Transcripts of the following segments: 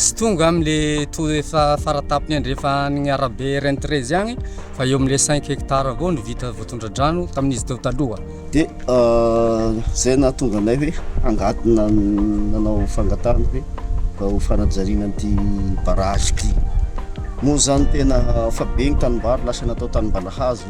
Tsy tonga amin le tour efa faratapony andrefa an'igny arabe RN treize agny fa eo amle cinq hectares avao no vita voatondradrano tamin'izy teo taloha. De zay nahatonga anay hoe hangatona nanao fangatahana hoe mba ho fanajariana an'ity barrage ty. Moa zany tena efa be ny tanimbary lasa natao tanimballahazo.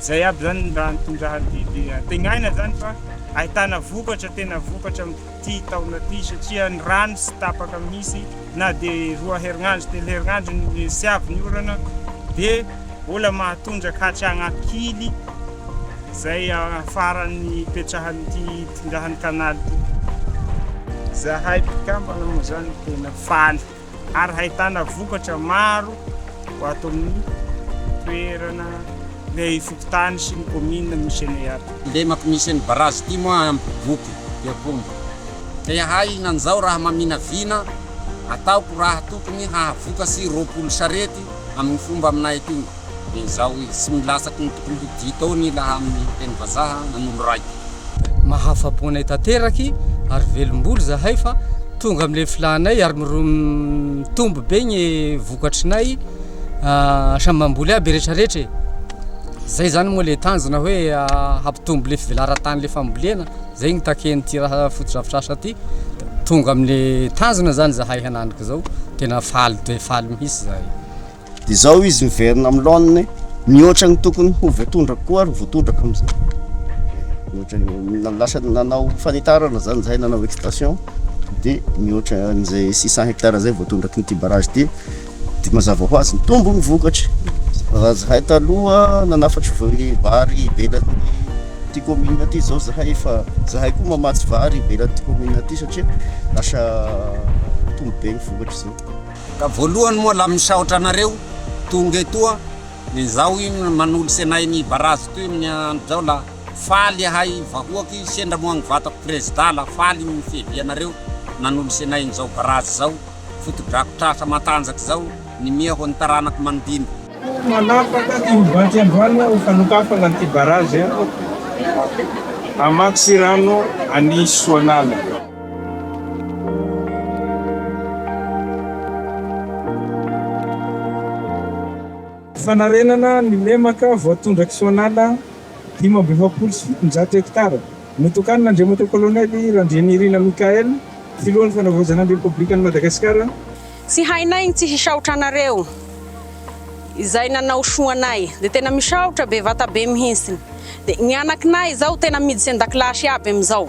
Izay iaby izany ny raha nitondrany ity dia antenaina izany fa ahitana vokatra tena vokatra amin'ity taona ity satria ny rano tsy tapaka mihitsy na dia roa herinandro telo herinandro ny tsy avy ny orana dia mbola mahatondraka hatrany ankily izay afaran'ny ipetrahan'ity itondrahan'ny canal ity. Izahay mpikambana moa izany tena faly. ary hahitana vokatra maro ho ato amin'ny toerana, ny fokontany sy ny kaominina misy anay ato. Lemako misy an'i Barazy ity moa ampy voky i Akombo. Te ahay nanjao raha maminavina ataoko raha tokony hahavoka sy roapolo sarety amin'ny fomba aminay aty. dia izao izy, Tsy milasaky ny tokony ho dito ao ny laha amin'ny teny vazaha nanolo raiko. Mahafa-po anay tanteraky ary velom-bolo zahay fa tonga amin'ilay filànay ary mitombo be ny vokatry nay, samy mamboly aby retraretra e! Zay zany moa le tanjona hoe hampitombo le fivelaran-tany le fambolena, zay no takian'ity raha fotodrafitrasa ty, tonga amle tanjona zany zahay hananiko zao, tena faly dia faly mihitsy zahay. dia izao izy miverina amin'ny laoniny mihoatra ny tokony ho voatondraka koa ary voatondraka amin'izay mihoatra ny lasa nanao fanitarana zany izay nanao extension dia mihoatra an'izay six cent hectares izay voatondraky ny tibarage dia dia mazava ho azy mitombo ny vokatra raha zahay taloha nanafatra vary ivelan'ny ty commune ty izao zahay efa zahay koa mamatsy vary ivelan'ny ty commune ty satria lasa mitombo be ny vokatra izao Ka voalohany moa lah misaotra anareo tonga eto a, izaho io manolo senay ny barazy toy ny andro zao lah faly ahay vahoaky sendra moa ny vatako prezida lah faly ny fiavianareo nanolo senay ny zao barazy zao fotodrafitrasa matanjaka zao ny miha ho ny taranako manodino. Koa manapaka ty mivatsy androany aho fa nokafana ty barazy aho hamatsy rano any Soanala. Fanarenana ny lemaka voatondra Kisoanala dimy amby efapolo sy fitonjato hektara, notokanina Andriamatoa Colonel Randrianirina Michael, Filohan'ny Fanavaozana ny Repoblikan'i Madagasikara. Tsy hainay ny tsy hisaotra anareo izay nanao soa anay dia tena misaotra bevata be mihintsiny dia ny anaknay izao tena miditsy andakilasy aby amizao.